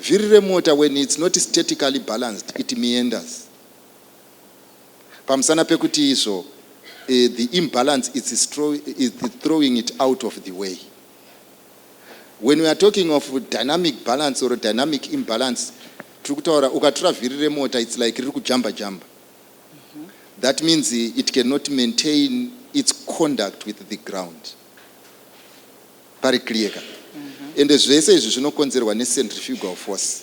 Vhiri remota when it's not statically balanced it meanders pamusana pekuti izvo uh, the imbalance it's, it's throwing it out of the way. When we are talking of dynamic balance or dynamic imbalance, tiri kutaura ukatura vhiri remota it's like riri kujamba jamba. Mm-hmm. That means it cannot maintain its conduct with the ground. Pari clear ka. Ende zvese izvi zvinokonzerwa ne centrifugal force.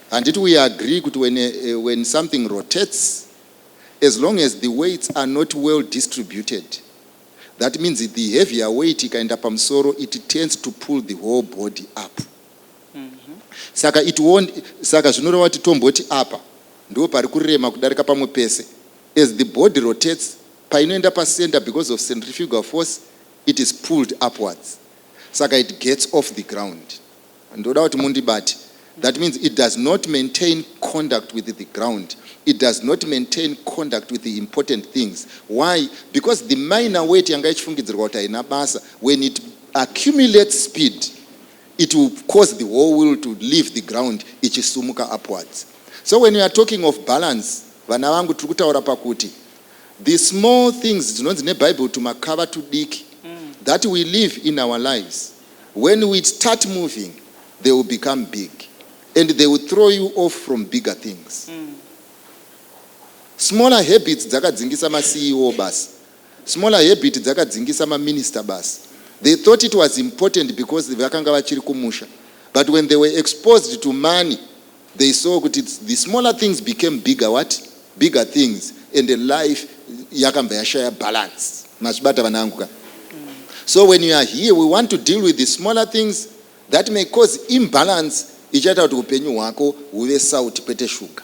Handiti we agree kuti when, uh, when something rotates as long as the weights are not well distributed that means the heavier weight ikaenda pamusoro it tends to pull the whole body up. Saka it won't, saka zvinoreva kuti tomboti apa ndipo pari kurema kudarika pamwe pese. As the body rotates painoenda pacenter because of centrifugal force It is pulled upwards saka it gets off the ground. Ndoda kuti mundibate. That means it does not maintain conduct with the ground. It does not maintain conduct with the important things. Why? Because the minor weight yanga ichifungidzirwa kuti haina basa when it accumulates speed it will cause the whole wheel to leave the ground ichisumuka upwards. So when you are talking of balance vana vangu tiri kutaura pakuti The small things dzinonzi nebible tumakava tudiki that we live in our lives when we start moving they will become big and they will throw you off from bigger things. Smaller habits dzakadzingisa maCEO basi. Smaller habit dzakadzingisa maminister basi. They thought it was important because vakanga vachiri kumusha but when they were exposed to money They saw kuti the smaller things became bigger what? Bigger things and life yakambva yashaya balance. Mazvibata vana vangu ka? So when you are here we want to deal with the smaller things that may cause imbalance ichaita kuti upenyu hwako huve salt kwete sugar.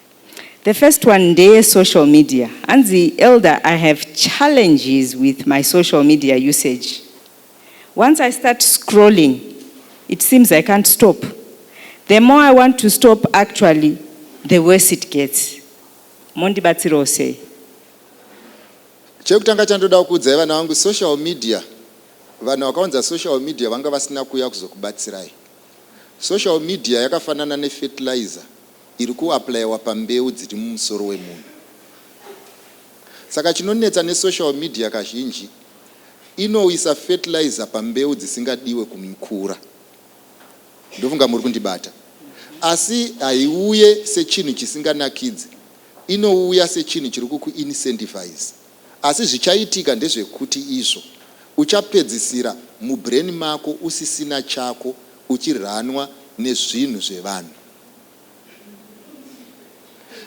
The first one ndeye social media. Hanzi elder I have challenges with my social media usage. Once I start scrolling it seems I can't stop. The more I want to stop actually the worse it gets. Mondibatsirawo sei? Chekutanga chandoda kukuudzai vana vangu social media vanhu vakaunza social media vanga vasina kuuya kuzokubatsirai. Social media yakafanana nefertilizer iri kuaplayiwa pambeu dziri mumusoro wemunhu. Saka chinonetsa nesocial media kazhinji inoisa fertilizer pambeu dzisingadiwe kumukura. Ndofunga muri kundibata. Asi haiuye sechinhu chisinganakidze, inouya sechinhu chiri kukuincentivize. Asi zvichaitika ndezvekuti izvo uchapedzisira mubrain mako usisina chako uchirunwa nezvinhu zvevanhu.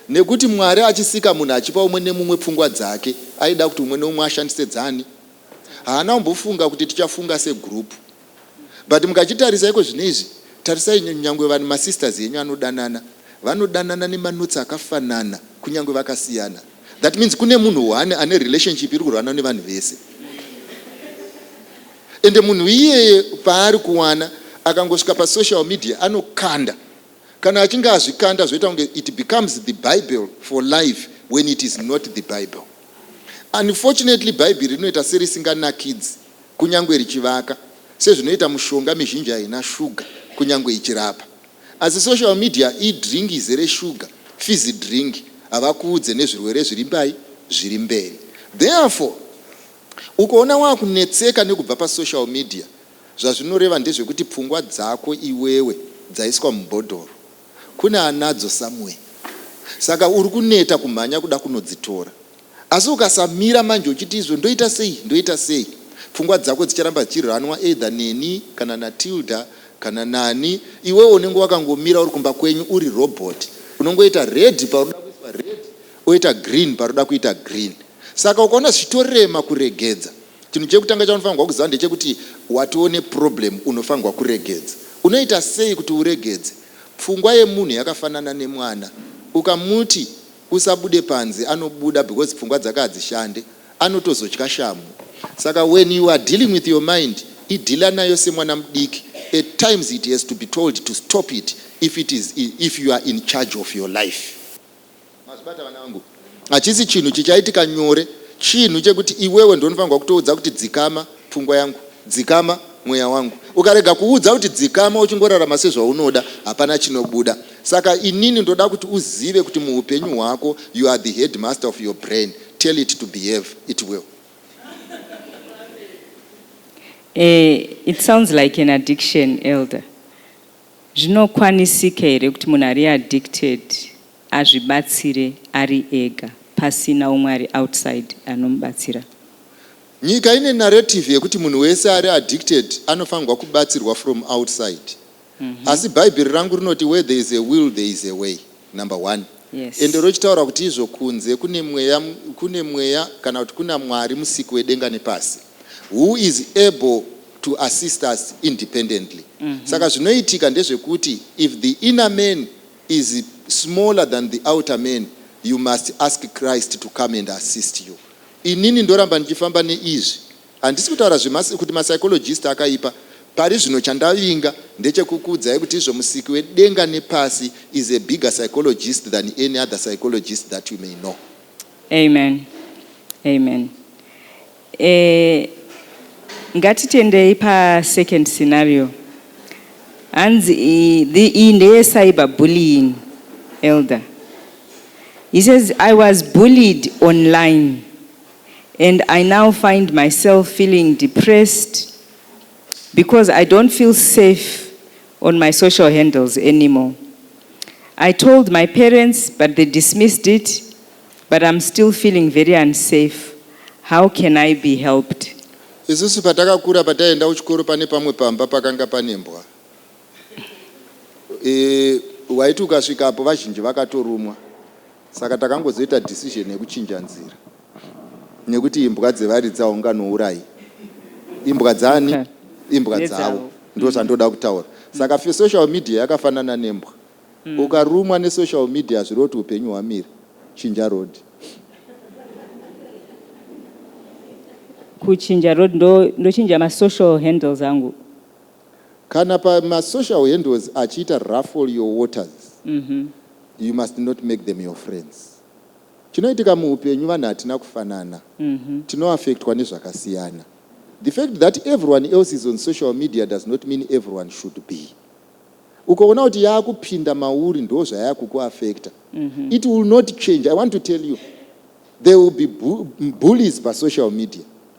Nekuti Mwari achisika munhu achipa umwe nemumwe pfungwa dzake aida kuti umwe neumwe ashandise dzani? Haana kumbofunga kuti tichafunga se group. But mukachitarisa iko zvinezvi tarisai nyangwe vanhu ma sisters enyu anodanana vanodanana nema notes akafanana kunyangwe vakasiyana. That means kune munhu one ane relationship iri kurwanwa nevanhu vese. Ende munhu iyeye paari kuwana akangosvika pa social media anokanda kana achinge azvikanda zvoita kunge it becomes the bible for life when it is not the bible. Unfortunately bhaibheri rinoita serisinganakidzi kunyangwe richivaka sezvinoita mushonga mizhinji haina shuga kunyangwe ichirapa. Asi social media i drink izere shuga fizzy drink havakuudze nezvirwere zviri mbai zviri mberi therefore. Ukaona wakunetseka nekubva pa social media zvazvinoreva ndezvekuti pfungwa dzako iwewe dzaiswa mubhodhoro kune anadzo somewhere saka uri kuneta kumhanya kuda kunodzitora asi ukasamira manje uchiti izvo ndoita sei ndoita sei pfungwa dzako dzicharamba dzichi runwa either neni kana na Tilda kana nani iwewe unenge wakangomira uri kumba kwenyu uri robot unongoita red paunoda kuiswa red Oita green parikuda kuita green saka ukaona zvichitorema kuregedza chinhu chekutanga chaunofanirwa kuziva ndechekuti watoo neproblem unofanirwa kuregedza. Unoita sei kuti uregedze? Pfungwa yemunhu yakafanana nemwana ukamuti usabude panze anobuda because pfungwa dzake hadzishande anotozotya shamhu saka when you are dealing with your mind idhila nayo semwana mudiki at times it has to be told to stop it if it is if you are in charge of your life. Mazvibata vana vangu. Hachisi chinhu chichaitika nyore. Chinhu chekuti iwewe ndiwe unofanirwa kutoudza kuti dzikama pfungwa yangu, dzikama mweya wangu. Ukarega kuudza kuti dzikama uchingorarama sezvaunoda hapana chinobuda. Saka inini ndoda kuti uzive kuti muhupenyu hwako you are the headmaster of your brain. Tell it to behave. It will. Eh, it sounds like an addiction, Elder. Zvinokwanisika here kuti munhu ari addicted azvibatsire ari ega pasina umwe ari outside anomubatsira? Nyika ine narrative yekuti munhu wese ari addicted anofanirwa kubatsirwa from outside. Asi Bhaibheri rangu rinoti where there is a will there is a way. number one yes. ende rochitaura kuti izvo kunze kune mweya, kune mweya kana kuti kuna mwari musiki wedenga nepasi who is able to assist us independently mm -hmm. saka zvinoitika ndezvekuti if the inner man is smaller than the outer man you must ask christ to come and assist you inini ndoramba ndichifamba neizvi Handisi kutaura zvema kuti ma psychologist akaipa, pari zvino chandavinga ndechekukuudzai kuti izvo musiki wedenga nepasi is a bigger psychologist than any other psychologist that you may know. Amen amen eh ngatitendei pa second scenario hanzi iyi ndeye cyber bullying elder he says i was bullied online and I now find myself feeling depressed because I don't feel safe on my social handles anymore. I told my parents but they dismissed it but I'm still feeling very unsafe. How can I be helped? Isusu patakakura pataienda kuchikoro pane pamwe pamba pakanga pane mbwa. E, waiti ukasvikapo vazhinji vakatorumwa. Saka takangozoita decision yekuchinja nzira nekuti imbwa dzevaridzi haunganourai imbwa dzani imbwa dzavo ndozvandoda kutaura mm. saka fe social media yakafanana nembwa mm. ukarumwa nesocial media hazviri kuti upenyu hwamire chinja road kuchinja road ndochinja masocial handles angu Kana pama social handles achiita ruffle your waters you must not make them your friends. Chinoitika muhupenyu vanhu hatina kufanana tino affectwa nezvakasiyana. The fact that everyone else is on social media does not mean everyone should be. Ukaona kuti yakupinda mauri ndozvayakuku affecta it will not change. I want to tell you there will be bullies pa social media.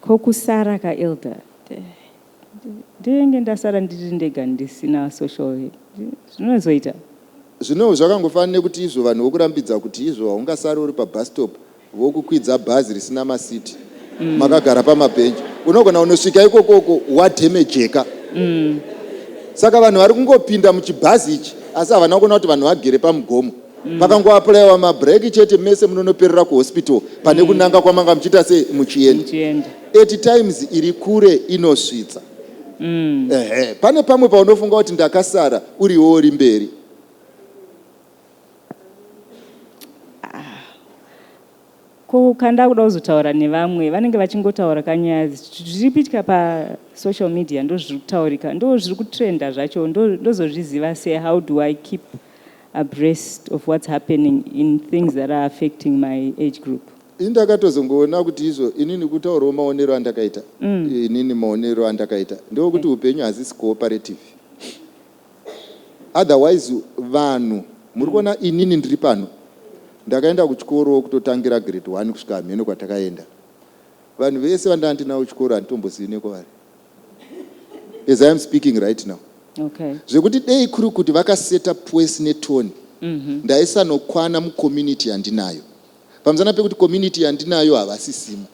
Ko kusara ka Elder ndenge ndasara ndiri ndega ndisina social zvinozoita. Zvino zvakangofanana nekuti izvo vanhu vokurambidza kuti izvo haungasari uri pabus stop vokukwidza bhazi risina masiti makagara pamabhenji unogona kunosvika ikoko uko wadhemejeka. Saka vanhu vari kungopinda muchibhazi ichi asi havana kuona kuti vanhu vagere pamugomo. mm. makangoaplayiwa mabreak chete mese munonoperera kuhospital pane mm. kunanga kwamanga muchiita se muchienda at times iri kure inosvitsa mm. ehe pane pamwe paunofunga kuti ndakasara uriwo uri mberi Ko kanda kuda kuzotaura nevamwe vanenge vachingotaura ka nyaya zviri kuitika pa social media ndo zviri kutaurika ndo zviri kutrenda zvacho ndo ndozozviziva se how do I keep abreast of what's happening in things that are affecting my age group. Ini ndakatozongoona kuti izvo inini kutaurawo maonero andakaita inini maonero andakaita ndeokuti upenyu hazisi cooperative. otherwise vanhu muri kuona inini ndiri pano ndakaenda kuchikoro kutotangira grade one kusvika hameno kwatakaenda vanhu vese vandanga ndinavo kuchikoro handitombozivi nekwavari as i am speaking right now okay. zvekuti dei kuri kuti vakaseta pwesi netoni mm -hmm. ndaisanokwana mucommunity yandinayo pamusana pekuti community yandinayo havasisimo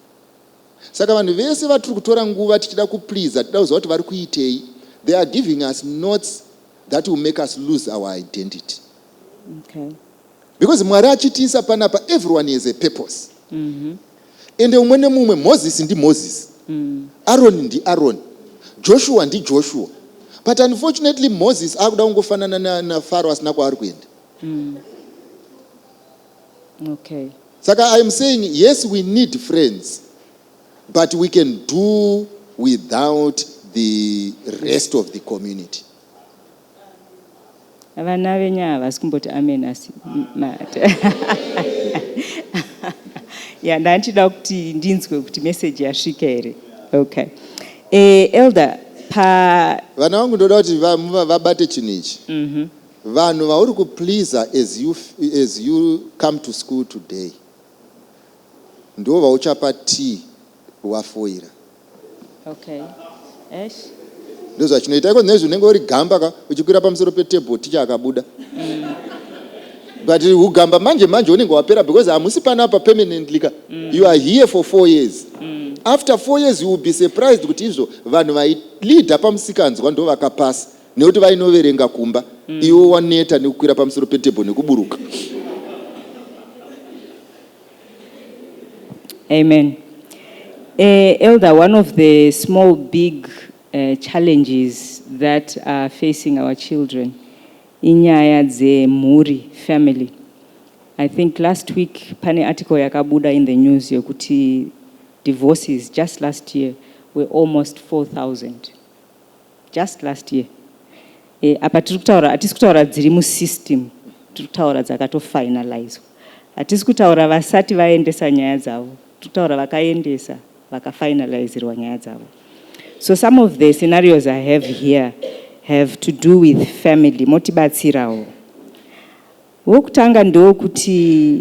Saka vanhu vese vatiri kutora nguva tichida kupleaser tida kuziva kuti vari kuitei. They are giving us notes that will make us lose our identity. Okay. Because Mwari achitiisa panapa everyone has a purpose. Mm -hmm. Ende umwe nemumwe Moses ndi Moses. Mm. Aaron ndi Aaron. Joshua ndi Joshua. But unfortunately Moses akuda kungofanana na, na Pharaoh asina kwaari kuenda. Mm. Okay. Saka I'm saying yes we need friends but we can do without the rest of the community. Vana venyu havasi kumboti amen asi mate. ya ndandichida kuti ndinzwe kuti message yasvika here. Okay. Eh, elder pa vana vangu ndoda kuti vabate chinhu ichi. Mhm. Mm Vanhu vauri ku pleaser as you, as you come to school today ndivo vauchapa tea wafoira. Okay. Eish. Ndozvachinoita iko nezvi unenge uri gamba ka uchikwira pamusoro petable ticha akabuda. Mm. But ugamba manje manje unenge wapera because hamusi pana apa permanently ka. Mm. You are here for four years. Mm. After four years you will be surprised kuti izvo vanhu vai leader pamusikanzwa ndo vakapasa. nekuti vainoverenga kumba mm. iwo waneta nekukwira pamusoro petebho nekuburuka amen uh, elder one of the small big uh, challenges that are facing our children inyaya dzemhuri family i think last week pane article yakabuda in the news yokuti divorces just last year were almost 4000 Just last year eh, apa tiri kutaura hatisi kutaura dziri musystem tiri kutaura dzakatofinalizwa hatisi kutaura vasati vaendesa nyaya dzavo tiri kutaura vakaendesa vakafinalizirwa nyaya dzavo so some of the scenarios i have here have to do with family motibatsirawo wokutanga ndewokuti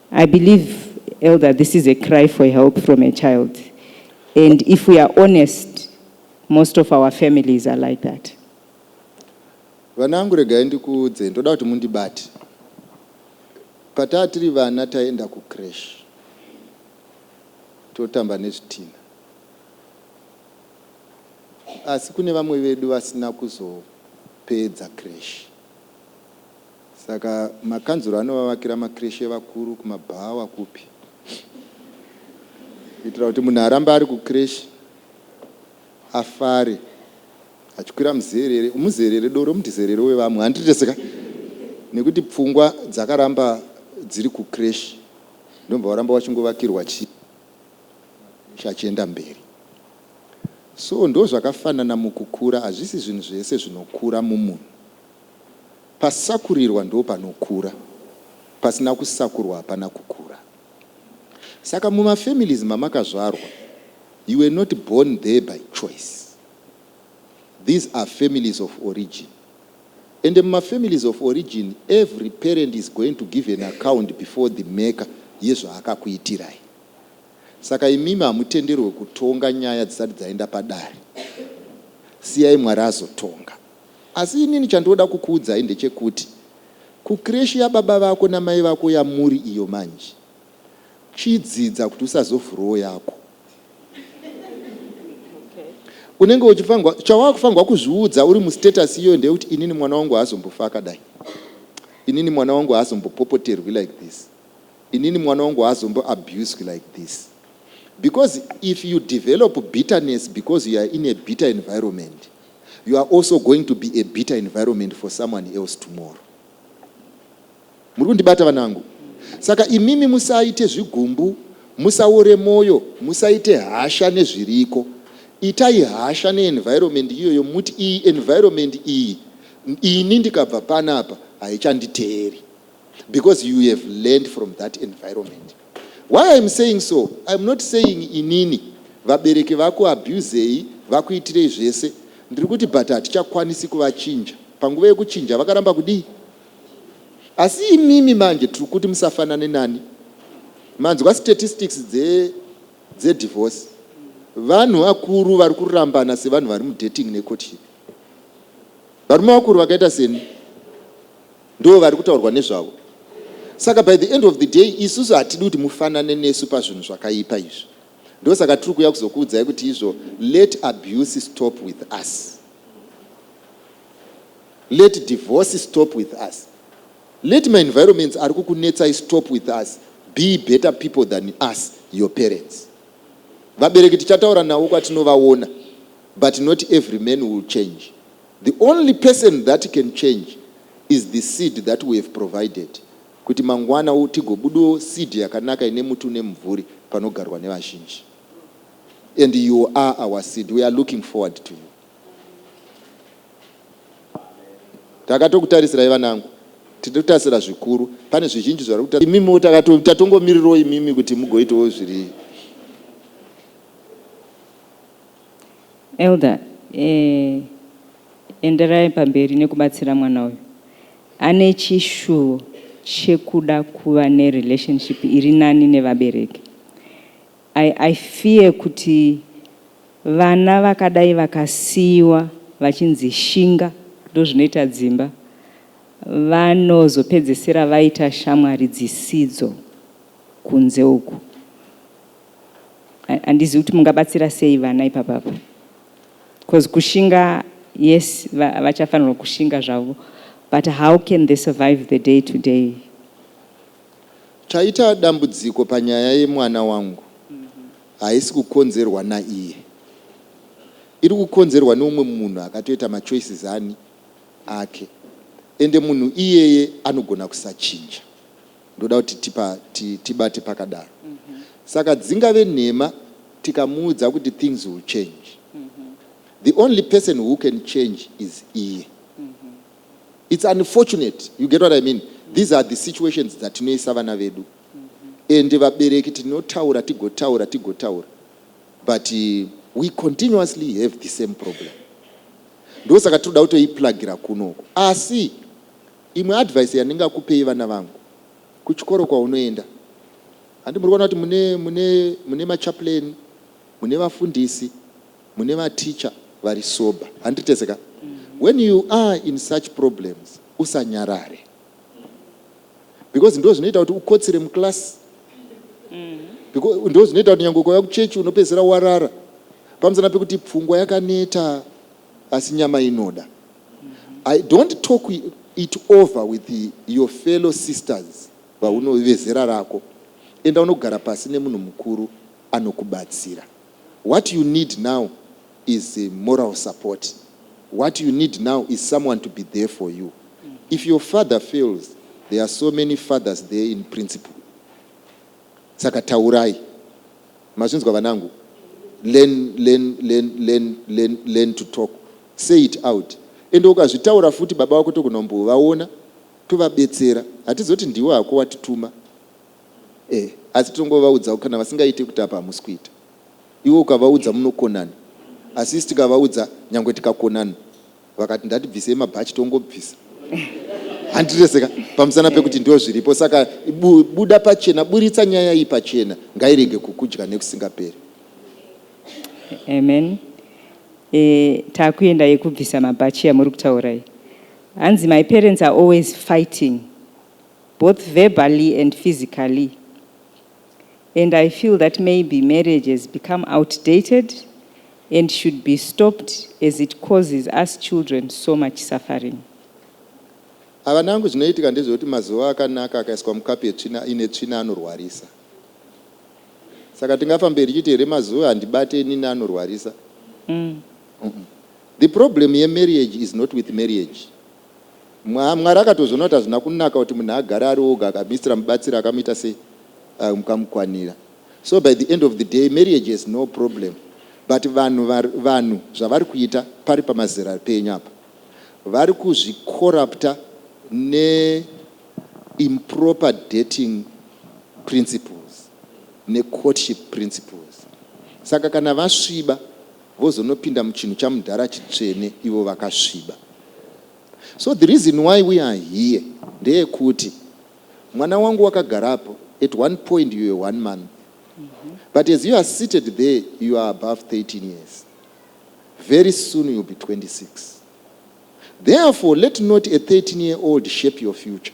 I believe elder this is a cry for help from a child and if we are honest most of our families are like that vana vangu regai ndikuudzei ndoda kuti mundibate pataa tiri vana taienda kucrash totamba nezvitina asi kune vamwe vedu vasina kuzopedza crash Saka makanzuru anovavakira macreche evakuru kumabhawa kupi kuitira kuti munhu arambe ari kucreche afare achikwira muzerere umuzerere doro mudizerere wevamwe handitese ka nekuti pfungwa dzakaramba dziri kucreche ndobva waramba wachingovakirwa chii macreche achienda mberi so ndozvakafanana mukukura hazvisi zvinhu zvese zvinokura mumunhu Pasakurirwa ndopanokura, pasina kusakurwa hapana kukura. Saka mumafamilies mamakazvarwa you were not born there by choice. These are families of origin and mumafamilies of origin every parent is going to give an account before the maker yezvaakakuitirai. Saka imimi hamutenderwe kutonga nyaya dzisati dzaenda padare. Siyai Mwari azotonga. Asi inini chandinoda kukuudzai ndechekuti kucreche yababa vako namai vako yamuri iyo manje chidzidza kuti usazovhurawo yako. Unenge uchifanirwa, chawakufanirwa kuzviudza uri mustatus iyoyo ndeyekuti inini mwana wangu haazombofi akadai. Inini mwana wangu haazombopopoterwi like this. Inini mwana wangu haazombo abused like this. Because if you develop bitterness because you are in a bitter environment, you are also going to be a bitter environment for someone else tomorrow. Muri kundibata vanangu? Saka imimi musaite zvigumbu, musaore moyo, musaite hasha nezviriko. Itai hasha neenvironment iyoyo muti iyi environment iyi ini ndikabva panapa haichanditeeri because you have learned from that environment. Why I'm saying so, I'm not saying inini vabereki vaku abusei vakuitirei zvese ndiri kuti but hatichakwanisi kuvachinja panguva yekuchinja vakaramba kudii asi imimi manje tiri kuti musafanane nani manzwa statistics dze dzedivorce vanhu vakuru vari kurambana sevanhu vari mudating necourtship varume vakuru vakaita seni Ndivo vari kutaurwa nezvavo. Saka by the end of the day isusu hatidi kuti mufanane nesu pazvinhu zvakaipa izvi. Ndosaka tiri kuuya kuzokuudzai kuti izvo let abuse stop with us. Let divorce stop with us. Let my environments ari kukunetsai stop with us. Be better people than us, your parents. Vabereki tichataura navo kwatinovaona but not every man will change. The only person that can change is the seed that we have provided kuti mangwana tigobudawo seed yakanaka ine muti une mumvuri panogarwa nevazhinji and you are our seed we are looking forward to you takatokutaritsirai vanangu titotarisira zvikuru pane zvizhinji zvari kuta imimiwo tatongomirirawo imimi kuti mugoitawo zviri Elder eeh enderai pamberi nekubatsira mwana uyu. Ane chishuvo chekuda kuva ne relationship iri nani nevabereki. I I fear kuti vana vakadai vakasiiwa vachinzi shinga ndozvinoita dzimba vanozopedzesera vaita shamwari dzisidzo kunze uku. handizivi kuti mungabatsira sei vana ipapapa bcause kushinga yes vachafanirwa kushinga zvavo but how can they survive the day to day taita dambudziko panyaya yemwana wangu haisi kukonzerwa naiye iri kukonzerwa neumwe munhu akatoita machoices ani ake ende munhu iyeye anogona kusachinja ndoda kuti tipa, ti, tibate pakadaro mm -hmm. saka dzingave nhema tikamuudza kuti things will change mm -hmm. the only person who can change is iye mm -hmm. it's unfortunate you get what i mean mm -hmm. these are the situations dzatinoisa vana vedu mm -hmm. and vabereki tinotaura tigotaura tigotaura but uh, we continuously have the same problem ndosaka tinoda kutoiplagira kunoko asi Imwe advice yandingakupei vana vangu kuchikoro kwaunoenda handi muri kuona kuti mune mune mune machaplain mune vafundisi mune mateacher vari sober handiti tese ka when you are in such problems usanyarare because ndozvinoita kuti ukotsire muclass ndozvinoita kuti nyange ukauya kuchechi unopedzisira warara pamusana pekuti pfungwa yakaneta asi nyama inoda I don't talk it over with your fellow sisters vauno vezera rako enda unogara pasi nemunhu mukuru anokubatsira what you need now is moral support what you need now is someone to be there for you if your father fails there are so many fathers there in principle saka taurai Mazvinzwa vanangu learn learn learn learn learn learn to talk say it out ende ukazvitaura futi baba vako tokunombovaona tovabetsera hatizoti ndiwe hako watituma eh asi tinongovaudzawo kana vasingaite kuti apa hamusi kuita iwe ukavaudza munokonana asi isi tikavaudza nyangwe tikakonana Vakati ndatibvisei mabhachi tongobvisa handirese ka pamusana pekuti ndoo zviripo saka bu, buda pachena buritsa nyaya iyi pachena ngairege kukudya nekusingaperi amen e, takuenda yekubvisa mabhachi yamuri kutaura iyi hanzi my parents are always fighting both verbally and physically and I feel that maybe marriage has become outdated and should be stopped as it causes us children so much suffering. Havana hangu zvinoitika ndezvekuti mazuva akanaka akaiswa mukapu yetsvina ine tsvina anorwarisa. Saka tingafamberi chiti here mazuva handibate inini anorwarisa. Mm. Mm -mm. The problem yemarriage is not with marriage. Mwari akatozoona kuti hazvina kunaka kuti munhu agare ari oga akamistira mubatsiri akamuita sei uyu mukamukwanira so by the end of the day marriage has no problem but vanhu vanhu zvavari kuita pari pamazera penyu apa vari kuzvicorrupta ne improper dating principles ne courtship principles saka kana vasviba vozonopinda muchinhu chamudhara chitsvene ivo vakasviba so the reason why we are here ndeyekuti mwana wangu wakagarapo at one point you were one month but as you are seated there you are above 13 years very soon you'll be 26 therefore let not a 13 year old shape your future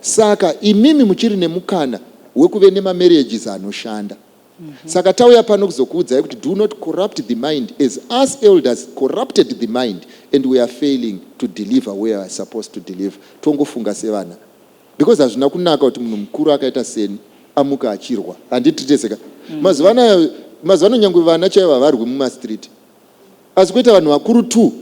Saka imimi muchiri nemukana wekuve nemamarriages anoshanda. Saka tauya pano kuzokuudzai kuti do not corrupt the mind as us elders corrupted the mind and we are failing to deliver where we are supposed to deliver. Tongofunga sevana because hazvina kunaka kuti munhu mukuru akaita seni amuke achirwa. Handitritese ka? Mazuva anaya, mazuva ano nyangwe vana chaivo havarwi mumastreet. Asi kuita vanhu vakuru two.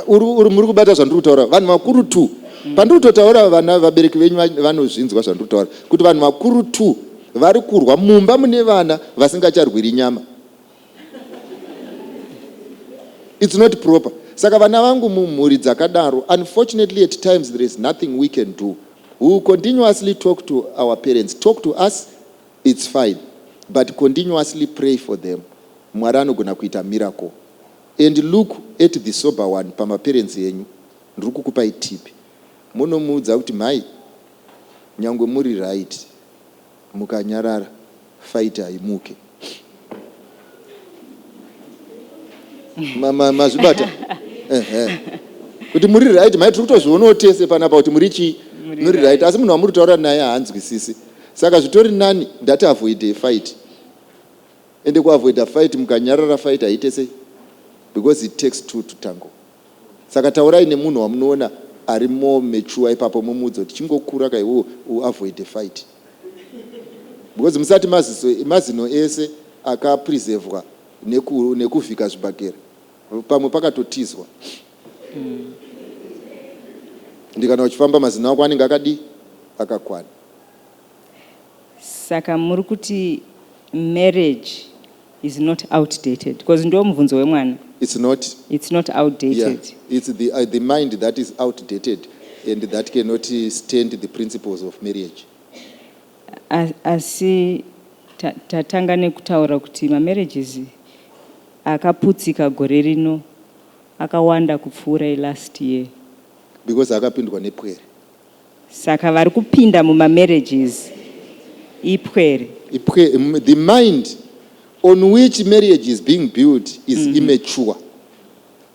Uri muri kubata zvandiri kutaura vanhu vakuru two. Pandiri kutotaura vana vabereki venyu vanozvinzwa zvandiri kutaura kuti vanhu vakuru two vari kurwa mumba mune vana vasingacharwiri nyama. It's not proper. Saka vana vangu mumhuri dzakadaro unfortunately at times there is nothing we can do. We will continuously talk to our parents. Talk to us It's fine but continuously pray for them Mwari anogona kuita miracle and look at the sober one pama parents enyu ndiri kukupai tip monomuudza kuti mhai nyangwe muri right mukanyarara fight haimuke. mazvibata kuti muri right mai tiri kutozvionawo tese panapa kuti muri chii muri right asi munhu wamuri kutaura naye haanzwisisi saka zvitori nani ndati avoide fight ende kuavoida fight mukanyarara fight haite sei because it takes two to tango Saka taurai nemunhu wamunoona ari more mature ipapo momuudza kuti chingokura ka iwewe u avoide fight because musati maziso mazino ese aka preservwa neku nekuvhika zvibhagera pamwe pakatotizwa ende kana uchifamba mazino ako anenge akadii akakwana. Saka muri kuti marriage is not outdated because ndo mubvunzo wemwana it's not it's not outdated yeah. it's the, uh, the mind that is outdated and that cannot stand the principles of marriage asi tatanga nekutaura kuti mamarriages akaputsika gore rino akawanda kupfuura elast year because akapindwa nepwere Saka vari kupinda muma marriages ipwere. Ipwe, the mind on which marriage is being built is mm -hmm. immature.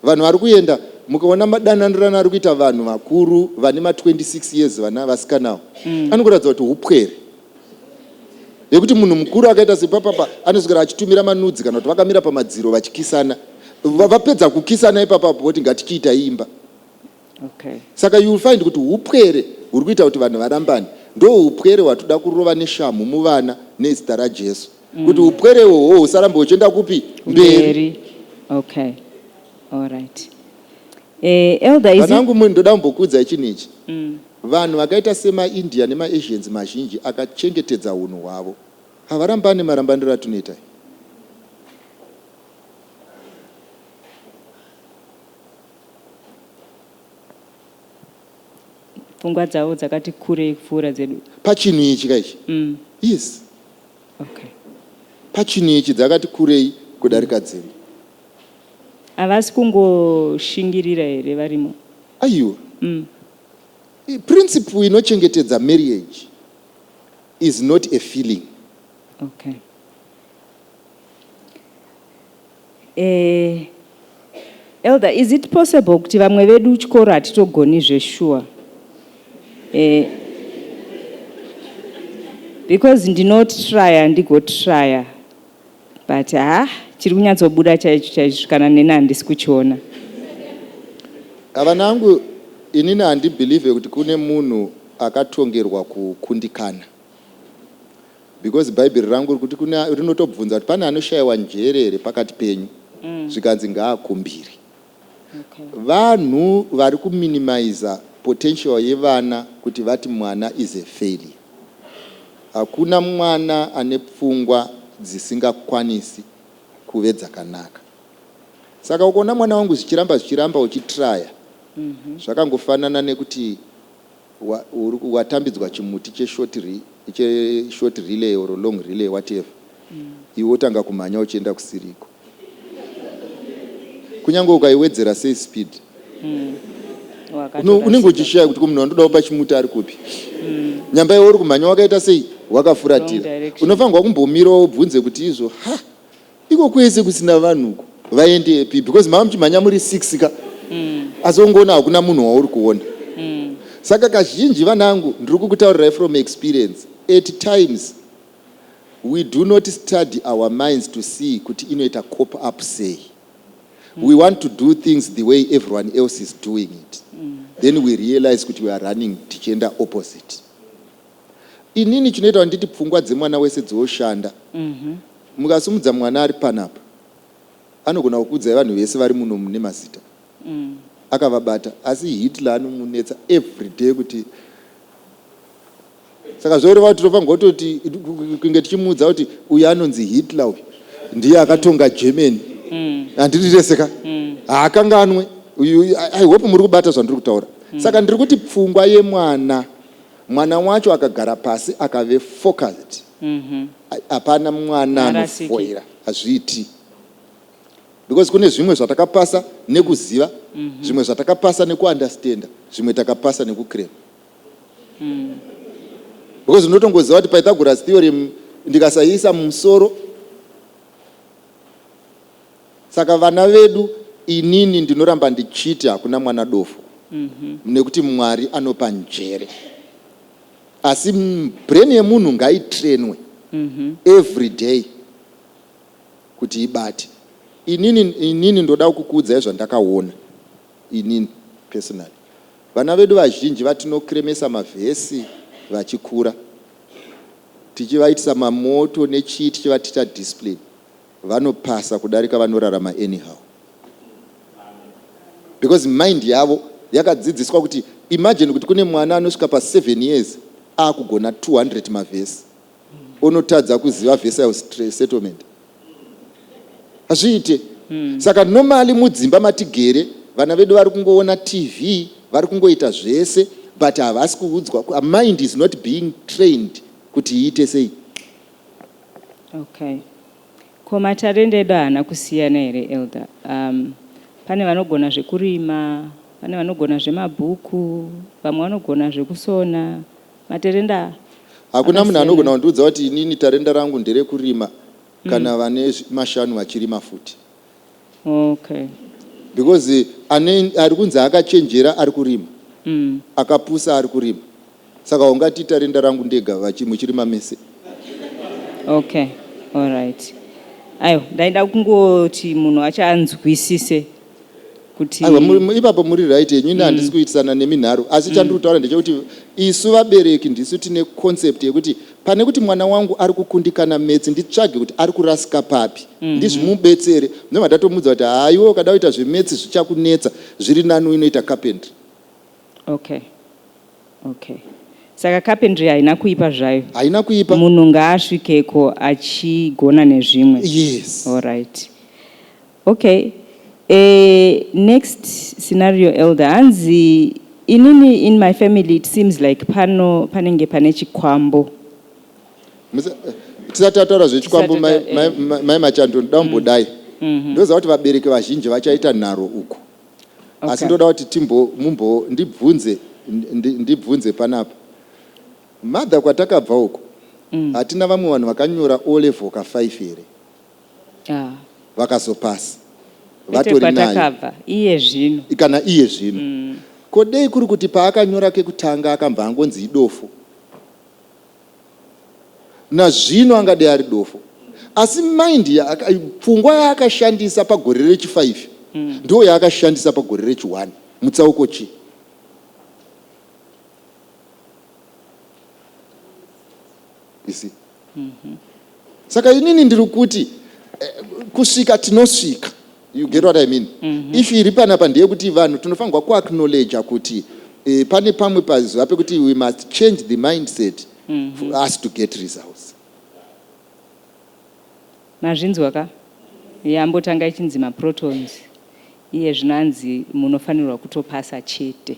Vanhu vari kuenda mukaona madananirano ari kuita vanhu vakuru vane ma 26 years vana vasikanawo mm. anokuratidza kuti upwere yekuti munhu mukuru akaita sepapapa anoswera achitumira manudzi kana kuti vakamira pamadziro vachikisana vapedza kukisana ipapapo voti ngatichiita imba Okay. Saka you will find kuti hupwere huri kuita kuti vanhu varambane ndohupwere hwatoda kurova neshamhu muvana nezita raJesu mm. kuti hupwere ihoho husarambe huchienda kupi mberi. Okay. All right. Eh, elder is Vanangu mwe ndoda kumbokuudzai chinhu ichi. Mm. Vanhu vakaita sema India nema Asians mazhinji akachengetedza hunhu hwavo. Havarambane marambaniro atunoita. pfungwa dzavo dzakati kurei kupfuura dzedu pachinhu ichi ka ichi mm. yes okay. pachinhu ichi dzakati kurei kudarika mm. dzedu havasi kungoshingirira here varimo aiwa mm. principle inochengetedza marriage is not a feeling okay. Eeh Elder is it possible kuti vamwe vedu chikoro hatitogoni zveshuwa eeh because ndinotryer ndigotryer but haa chiri kunyatsobuda chaicho chaizvo kana neni handisi kuchiona. Vana angu inini handibelieve kuti kune munhu akatongerwa kukundikana. Because bhaibheri rangu rikuti kune rinotobvunza kuti pane anoshaiwa njere here pakati penyu zvikanzi ngaakumbire. Okay. Vanhu vari kuminimizer potential yevana kuti vati mwana is a failure. Hakuna mwana ane pfungwa dzisingakwanisi kuve dzakanaka. Saka ukaona mwana wangu zvichiramba zvichiramba uchitryer zvakangofanana nekuti watambidzwa chimuti che short re che short relay or long relay whatever iwe wotanga kumhanya uchienda kusiriko kunyange ukaiwedzera sei speed Uno- unenge uchishaya kuti ko munhu wandoda kupa chimuti ari kupi nyamba iwe uri kumhanya wakaita sei Wrong wakafuratira direction. unofanirwa kumbomirawo ubvunze kuti izvo ha Iko kwese kusina vanhu uko vaendepi because mava muchimhanya muri six ka mm. asi ongoona hakuna munhu wauri kuona mm. saka kazhinji vanangu ndiri kukutaurirai from experience at times we do not study our minds to see kuti inoita cop up sei mm. we want to do things the way everyone else is doing it mm. then we realize kuti we are running tichienda opposite Inini chinoita kuti nditi pfungwa dzemwana wese dzooshanda. Mukasumudza mwana ari panapa anogona kukuudzai vanhu vese vari muno mune mazita akavabata asi Hitler anomunetsa everyday kuti saka zvoreva kuti tinofanirwa kutoti kunge tichimuudza kuti uyu anonzi Hitler uyu ndiye akatonga Germany. Handidi rese ka? Haakanganwe uyu. I hope muri kubata zvandiri kutaura. Saka ndiri kuti pfungwa yemwana Mwana wacho akagara pasi akave focused hapana mwana anofoira hazviiti because kune zvimwe zvatakapasa nekuziva zvimwe zvatakapasa nekuunderstander zvimwe takapasa nekucrema because unotongoziva kuti Pythagoras theorem ndikasayiisa mumusoro Saka vana vedu inini ndinoramba ndichiti hakuna mwana dofo nekuti Mwari anopa njere asi brain yemunhu ngaitrainwe everyday kuti ibate. Inini inini ndoda kukuudzai zvandakaona inini personally. Vana vedu vazhinji vatinokremesa mavhesi vachikura tichivaitisa mamoto nechii tichivatitcha discipline. Vanopasa kudarika vanorarama anyhow because mind yavo yakadzidziswa kuti imagine kuti kune mwana anosvika pa 7 years akugona 200 mavhesi onotadza kuziva vhesi ya settlement hazviite mm. saka normally mudzimba matigere vana vedu vari kungoona tv vari kungoita zvese but havasi kuudzwa mind is not being trained kuti iite sei Okay. Ko matarenda edu haana kusiyana here elder? Um, pane vanogona zvekurima, pane vanogona zvemabhuku, vamwe vanogona zvekusona. Matarenda Hakuna munhu anogona kundiudza kuti inini tarenda rangu nderekurima kana vane zvi- mashanu vachirima futi. Okay. Because ane ari kunzi akachenjera ari kurima. Akapusa ari kurima. Saka ungati tarenda rangu ndega vachi muchirima mese. Okay. Alright. Aiwa ndaida kungoti munhu achanzwisise kuti. Aiwa mu, mu, ipapo muri right henyu ini handisi kuitisana nemi nharo asi chandiri kutaura ndechekuti isu vabereki ndisu tine concept yekuti Pane kuti mwana wangu ari kukundikana maths nditsvage kuti ari kurasika papi ndizvimubetsere ndobva ndatomuudza kuti haa iwe ukada kuita zvemaths zvichakunetsa zviri nani uinoita carpentry. Okay okay saka carpentry haina kuipa zvayo. Haina kuipa. Munhu ngaasvikeko achigona nezvimwe. Yes. Alright. Ok eeh next scenario elder hanzi inini in my family it seems like pano panenge pane chikwambo. Tisati tataura zvechikwambo mai machando ndoda kumbodai mhm. ndoziva kuti vabereki vazhinji vachaita nharo uku asi ndoda kuti timbo mumbo ndibvunze ndibvunze panapa mother kwatakabva uku mm. hatina vamwe vanhu vakanyora o level ka 5 here vakazopasa vatori nayo iye zvino kana iye zvino mm. ko dei kuri kuti paakanyora kekutanga akambva angonzi idofo nazvino angadei ari dofo asi mind pfungwa yaakashandisa pagore rechifaifi mm. ndo yaakashandisa pagore rechiwani mutsauko chii isi saka inini ndiri kuti eh, kusvika tinosvika you get what i mean mm -hmm. if iri panapa ndeyekuti vanhu tinofanirwa kuacknowledger kuti eh, pane pamwe pazuva pekuti we must change the mindset mm -hmm. for mhm. us to get results mazvinzwa ka yambotanga ichinzi maprotons iye zvinanzi munofanirwa kutopasa chete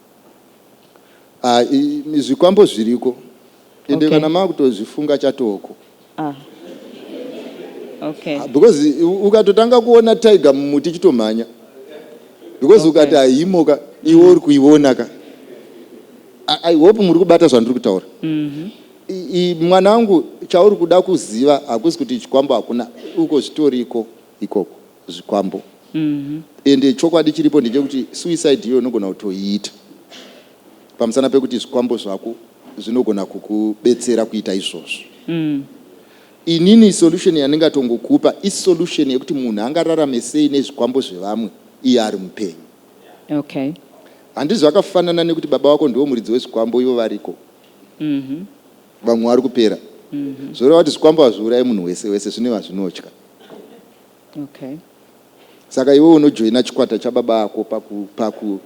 Ah, zvikwambo zviriko ende okay. Kana makutozvifunga chatoko ah. okay. Ah, because ukatotanga kuona tiger mumuti chitomhanya because okay. ukati ahimoka iwe uri kuiona ka i hope muri kubata zvandiri kutaura mm -hmm. mwana wangu chauri kuda kuziva hakusi kuti chikwambo hakuna uko zvitoriko ikoko zvikwambo ende chokwadi chiripo ndechekuti suicide iyoyo unogona kutoiita pamusana pekuti zvikwambo zvako zvinogona kukubetsera kuita izvozvo inini solution yandingatongokupa isolution yekuti munhu angararame sei nezvikwambo zvevamwe iye ari mupenyu okay handizvo akafanana nekuti baba vako ndivo muridzi wezvikwambo ivo variko mm-hmm. vamwe vari kupera mm-hmm. zvoreva kuti zvikwambo hazviurayi munhu wese wese zvine vazvinotya Okay. Saka iwe unojoina chikwata chababa ako paku paku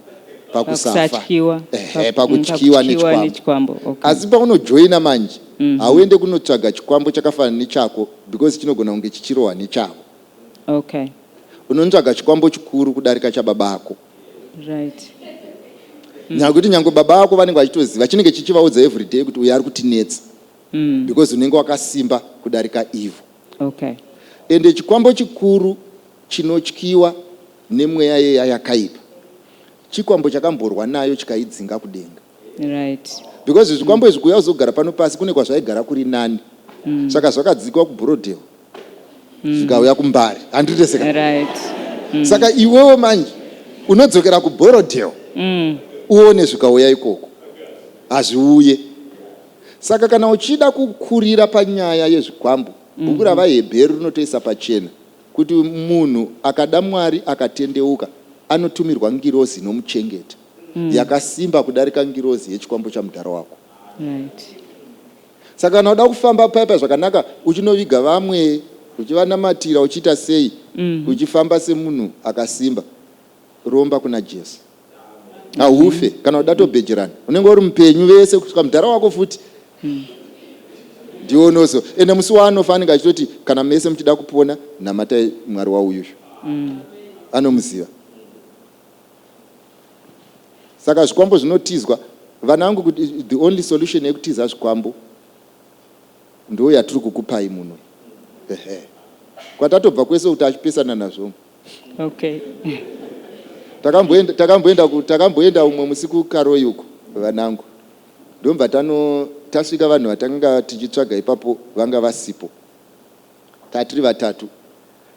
pakusafa ehe pakutyiwa nechikwambo asi paunojoina manje mhm. hauende kunotsvaga chikwambo chakafanana nechako because chinogona kunge chichirohwa nechavo okay unotsvaga chikwambo chikuru kudarika chababa ako right mm. nyakuti nyange baba ako vanenge vachitoziva chinenge chichivaudza everyday kuti uyo ari kutinetsa mm. because unenge wakasimba kudarika ivo Okay. Ende chikwambo chikuru chinotyiwa nemweya yeya yakaipa chikwambo chakamborwa nayo chikaidzinga kudenga. Right. Because zvikwambo izvi kuuya kuzogara pano pasi kune kwazvaigara kuri nani. Mm. Saka zvakadzikwa kuBroadale. Mm. Zvikauya kuMbare. Handiteseka. Right. Mm. Saka iwewe manje unodzokera kuBroadale. Mm. Uone zvikauya ikoko. Hazviuye. Saka kana uchida kukurira panyaya yezvikwambo, bhuku raVaHebheru rinotoisa pachena kuti munhu akada Mwari akatendeuka anotumirwa ngirozi inomuchengeta yakasimba kudarika ngirozi yechikwambo chamudhara wako. Right. Saka kana uda kufamba paya paya zvakanaka uchinoviga vamwe, uchivanamatira, uchiita sei, uchifamba semunhu akasimba, romba kuna Jesu. haufe kana kuda tobhejerana unenge uri mupenyu vese kusvika mudhara wako futi hmm. ndiwo unozo ende musi waanofa anenge achitoti kana mese muchida kupona namatai mwari wauyuzvo hmm. anomuziva saka zvikwambo zvinotizwa vana vangu kuti the only solution yekutiza zvikwambo ndo yatiri kukupai muno kwatatobva kwese kuti achipesana nazvo Okay. Takamboenda takamboenda ku takamboenda umwe musi ku Karoi uko vanangu. Ndobva tano tasvika vanhu vatanga tichitsvaga ipapo vanga vasipo. Tatiri vatatu.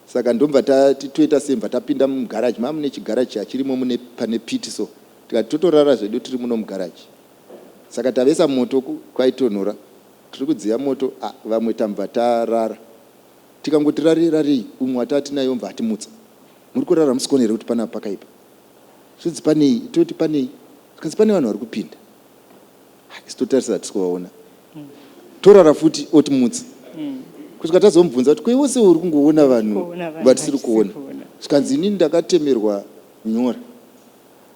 Saka ndobva tati toita sei bva tapinda mu garage mamu ne chigaraji chachirimo mune pane pit so. Tikati totorara zvedu tiri muno mu garage. Saka tavesa moto ku kwaitonhora. Tiri kudziya moto ah vamwe tambva tarara. Tikangoti rarei rarei umwe wataatinaye obva atimutsa. Muri kurara hamusikuona here kuti panapa pakaipa? Zvikanzi panei? Toti panei? Zvikanzi pane vanhu vari kupinda. Ha, isu totarisa hatisi kuvaona. Torara futi otimutsa. Kusvika tazomubvunza kuti ko iwe sewe uri kungoona vanhu vatisiri kuona. Zvikanzi inini ndakatemerwa nyora.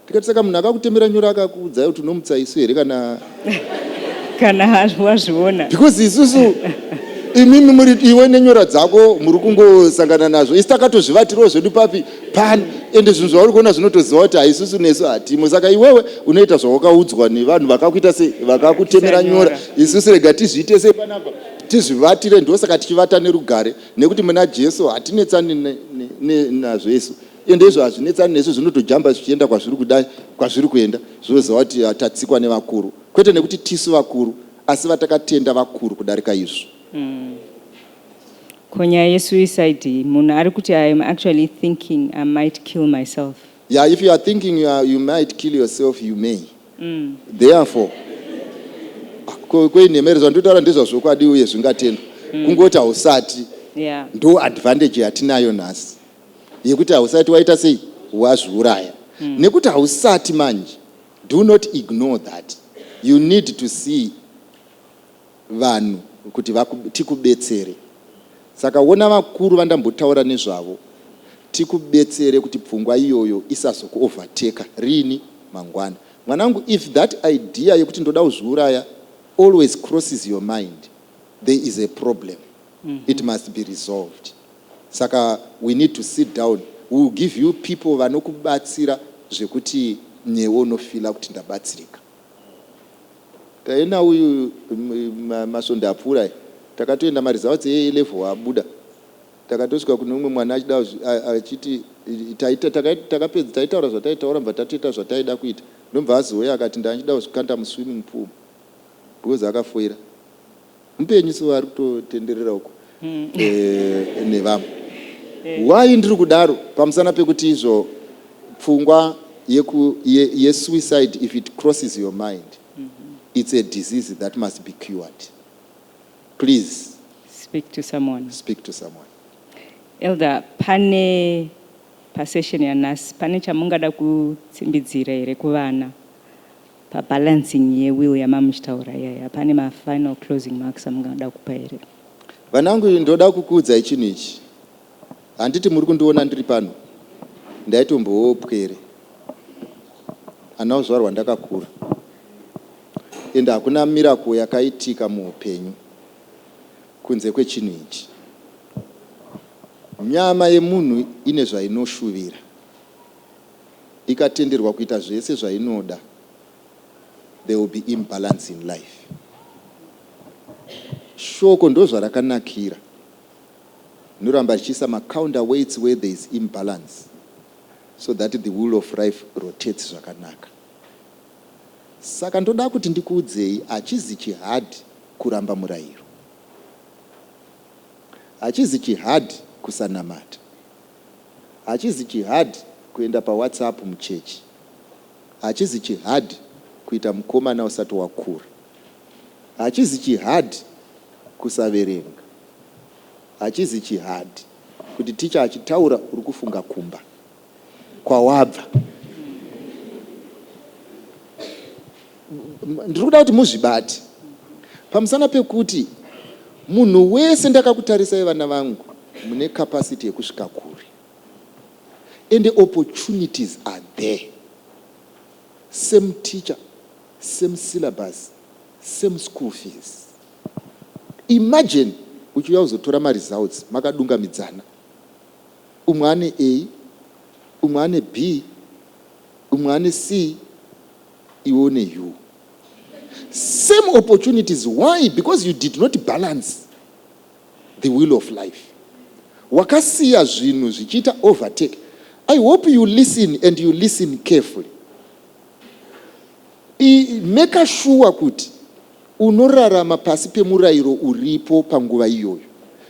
Ndikati saka munhu akakutemera nyora akakuudzai kuti unomutsa isu here kana kana wazviona because isusu imimi muri iwe nenyora dzako muri kungosangana nazvo isi takatozvivatirawo zvedu papi pan ende zvinhu zvauri kuona zvinotoziva kuti haisusu nesu hatimo saka iwewe unoita zvawakaudzwa nevanhu vakakuita se vakakutemera nyora isusu rega tizviite sei panapa tizvivatire ndosaka tichivata nerugare nekuti muna jesu hatinetsani nazvo isu ende izvo hazvinetsani nesu zvinotojamba zvichienda kwazviri kuda kwazviri kuenda zvinozova kuti ah, tatsikwa nevakuru kwete nekuti tisu vakuru asi vatakatenda vakuru kudarika izvo mm. ko nyaya yesuicide munhu ari kuti i am actually thinking i might kill myself yeah if you are thinking you, are, you might kill yourself you may mm. therefore ah, koinhemere zvandotaura ndezvazvokwadi uye zvingatendwa mm. kungoti hausati yeah. ndo advantage yatinayo nhasi yekuti hausati waita sei wazviuraya mm. nekuti hausati manje do not ignore that you need to see vanhu kuti tikubetsere saka wona vakuru vandambotaura nezvavo tikubetsere kuti pfungwa iyoyo isazokuoverteka rini mangwana mwanangu if that idea yekuti ndoda kuzviuraya always crosses your mind there is a problem mm -hmm. it must be resolved Saka we need to sit down we will give you people vanokubatsira zvekuti newe unofeeler kuti ndabatsirika. Taenda uyu masvondo apfuura aya takatoenda maresults e A level abuda takatosvika kune umwe mwana achida achiti taita takapedza taitaura zvataitaura mva tatoita zvataida kuita ndobva azouya akati ndachida kuzvikanda muswimming pool because akafoira Mupenyu so ari kutotenderera uko eh, nevamwe. Why ndiri kudaro pamusana pekuti izvo pfungwa yeku, ye, yesuicide if it crosses your mind it's a disease that must be cured. Please Speak to someone. speak to someone. Elder, pane pasession yanhasi pane chamungada kutsimbidzira here kuvana? Pa balancing ye will yamamuchitaura iyaya pane ma final closing marks amungada kupa here? Vanangu ndoda kukuudzai chinhu ichi. Handiti muri kundiona ndiri pano? Ndaitombovawo pwere. Handina kuzvarwa ndakakura. Ende hakuna miracle yakaitika muhupenyu kunze kwechinhu ichi. Nyama yemunhu ine zvainoshuvira. ikatenderwa kuita zvese zvainoda there will be imbalance in life. Shoko ndozvarakanakira rinoramba richiisa macounter weights where there is imbalance so that the wheel of life rotates zvakanaka. Saka ndoda kuti ndikuudzei hachizi chihadhi kuramba murayiro. Hachizi chihadhi kusanamata. Hachizi chihard kuenda pa whatsapp muchechi. Hachizi chihard kuita mukomana usati wakura. Hachizi chihard kusaverenga. Hachizi chihard kuti teacher achitaura uri kufunga kumba kwawabva. ndiri kuda kuti muzvibate pamusana pekuti munhu wese ndakakutarisai vana vangu mune capacity yekusvika kure and the opportunities are there same teacher same syllabus same school fees imagine uchiuya kuzotora maresults makadungamidzana umwe ane a umwe ane b umwe ane c iwe une you same opportunities why because you did not balance the will of life wakasiya zvinhu zvichiita overtake i hope you listen and you listen carefully meka shuwa kuti unorarama pasi pemurayiro uripo panguva iyoyo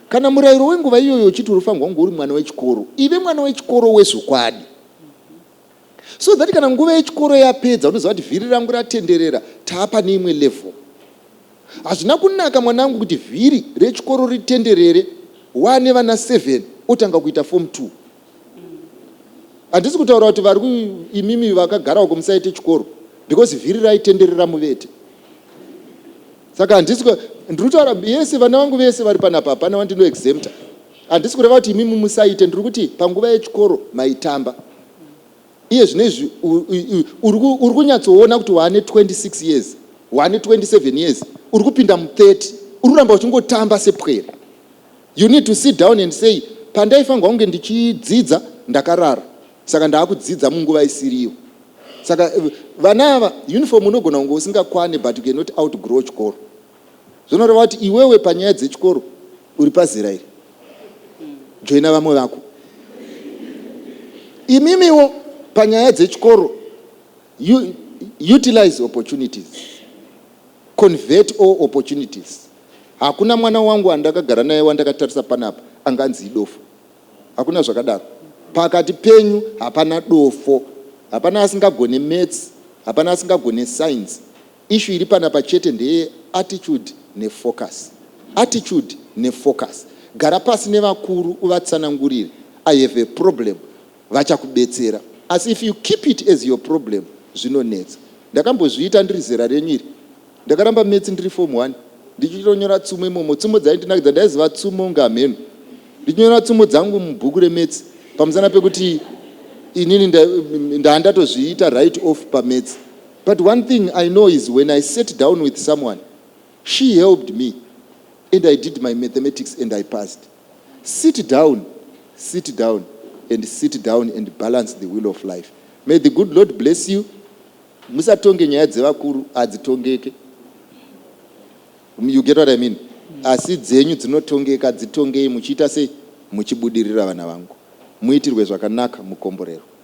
kana murayiro wenguva iyoyo uchiti unofanirwa kunge uri mwana wechikoro ive mwana wechikoro wezvokwadi so that kana nguva yechikoro yapedza unoziva kuti vhiri rangu ratenderera taa pane imwe level hazvina kunaka mwanangu kuti vhiri rechikoro ritenderere waane vana 7 otanga kuita form 2 handisi kutaura kuti vari imimi vakagarawo kumusaite chikoro because vhiri raitenderera muvete saka handisi ndiri kutaura yese vana vangu vese vari panapa hapana wandinoexemta Handisi kureva kuti imi mumusaite, ndiri kuti panguva yechikoro maitamba. Iye zvino izvi uri kunyatsoona kuti waane 26 years, waane 27 years, uri kupinda mu 30, uri kuramba uchingotamba sepwere. You need to sit down and say pandaifanirwa kunge ndichidzidza ndakarara, saka ndaakudzidza munguva isiriyo. Saka eh, vana ava uniform unogona kunge usingakwane but you cannot outgrow chikoro. Zvinoreva kuti iwewe panyaya dzechikoro uri pazera iri. Joina vamwe vako. Imimiwo panyaya dzechikoro utilize opportunities. Convert all opportunities. Hakuna mwana wangu andakagara naye wandakatarisa panapa anganzi idofo. Hakuna zvakadaro. Pakati penyu hapana dofo. Hapana asingagone maths, hapana asingagone science. Issue iri panapa chete ndeye attitude ne focus. Attitude ne focus. Gara pasi nevakuru uvatsanangurire I have a problem vachakubetsera asi if you keep it as your problem zvinonetsa. Ndakambozviita ndiri zera renyu iri. Ndakaramba maths ndiri form one ndichitonyora tsumo imomo. Tsumo dzaindinakidza ndaiziva tsumo kunge hamheno. Ndichinyora tsumo dzangu mubhuku remaths pamusana pekuti inini nda ndaa ndatozviita write off pamaths. But one thing I know is when I sat down with someone she helped me and I did my mathematics and I passed. Sit down, sit down and sit down and balance the wheel of life. May the good Lord bless you. Musatonge nyaya dzevakuru hadzitongeke. You get what I mean? Asi dzenyu dzinotongeka dzitongei muchiita sei? Muchibudirira vana vangu. Muitirwe zvakanaka mukomborero.